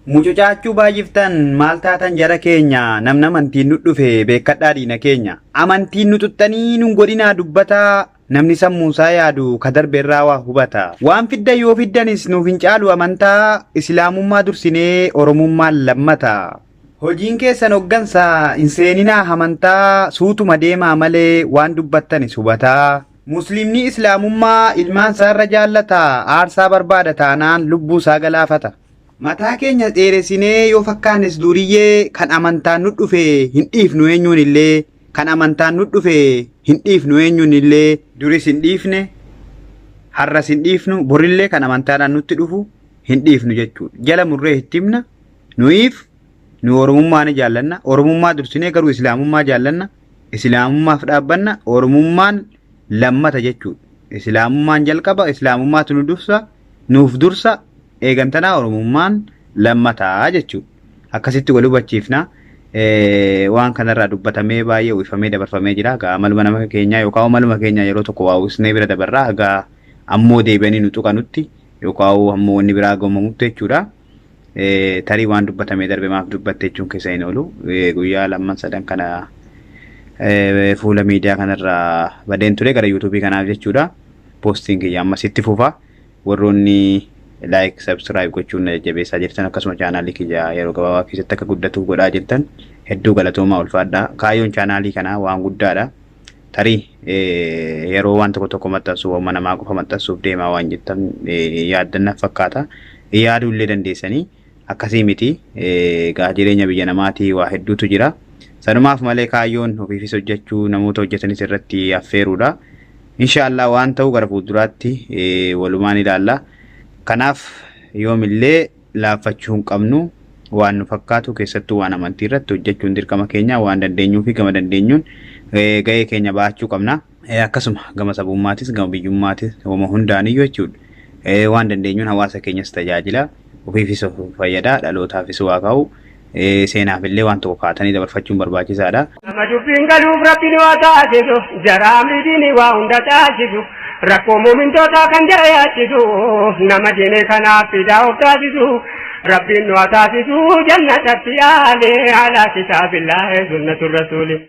Mucucaachuu baay'iftan maal taatan jara keenya namna amantiin nu dhufe beekkadhaa diina keenya amantiin nu xuxxanii nun godhinaa dubbataa namni sammuunsaa yaadu ka darbe irraa waa hubata waan fiddan yoo fiddanis nuuf hin caalu amantaa islaamummaa dursinee oromummaan lammata hojiin keessan hoggansa hin seeninaa amantaa suutuma deemaa malee waan dubbattanis hubataa musliimni islaamummaa ilmaan isaa irra jaallata aarsaa barbaada taanaan lubbuu isaa galaafata. Mataa keenya dheeressinee yoo fakkaannes duuriyyee kan amantaan nu dhufe hin dhiifnu eenyuun illee kan amantaan nu dhufe hin dhiifnu eenyuun illee duris hin dhiifne har'as hin dhiifnu borillee kan amantaadhaan nutti dhufu hin dhiifnu jechuudha. Jala murree itti himna nuyiif nu oromummaa ni jaallanna oromummaa dursinee garuu islaamummaa jaallanna islaamummaaf dhaabbanna oromummaan lammata jechuudha. Islaamummaan jalqaba, Islaamummaatu nu dursa, nuuf dursa, eegantanaa Oromummaan lammataa jechuudha. Akkasitti wal hubachiifna. Waan kanarraa dubbatamee baay'ee uwwifamee dabarfamee jira. Egaa maluma nama keenyaa yookaan maluma keenyaa yeroo tokko waa uwwisnee bira dabarraa egaa ammoo deebi'anii nu tuqanutti yookaan ammoo wanni biraa gamamutti jechuudha. tarii waan dubbatamee darbe maaf dubbatte jechuun keessa hin oolu. Guyyaa lamman sadan kana fuula miidiyaa kanarraa badeen ture gara yuutuubii kanaaf jechuudha. Poostiin kiyya ammas itti fufa. Warroonni laayik sabskiraayib gochuun na jajjabeessaa jirtan akkasuma chaanaalii kiyya yeroo gabaabaa keessatti akka guddatu godhaa jirtan hedduu galatoomaa ulfaadhaa. Kaayyoon chaanaalii kanaa waan guddaadha. tarii yeroo waan tokko tokko maxxansu waanuma namaa qofa maxxansuuf deemaa waan jettan yaaddanna fakkaata. Yaaduu illee dandeessanii akkasii miti egaa jireenya biyya namaatii waa hedduutu jira. Sanumaaf malee kaayyoon ofiifis hojjechuu namoota hojjetanis irratti affeeruudha. Inshaallah waan ta'u gara fuulduraatti walumaan ilaalla. Kanaaf yoomillee laaffachuu hin qabnu waan nu fakkaatu keessattuu waan amantii irratti hojjechuun dirqama keenya waan dandeenyuu fi gama dandeenyuun ga'ee keenya bahachuu qabna. Akkasuma gama sabummaatis gama biyyummaatis homa hundaaniyyuu jechuudha. Waan dandeenyuun hawaasa keenyas tajaajila ofiifis of fayyada dhalootaafis waa kaa'u. seenaaf illee waan tokko kaatanii dabarfachuun barbaachisaadha. Nama dubbiin galuuf rabbiin waa taasisu jaraa amridiin waa hunda taasisu rakkoo muumintootaa kan jara yaachisu nama diine kanaaf fidaa of taasisu rabbiin waa taasisu jannatatti aale alaa kitaabillaahi sunnatu rasuuli.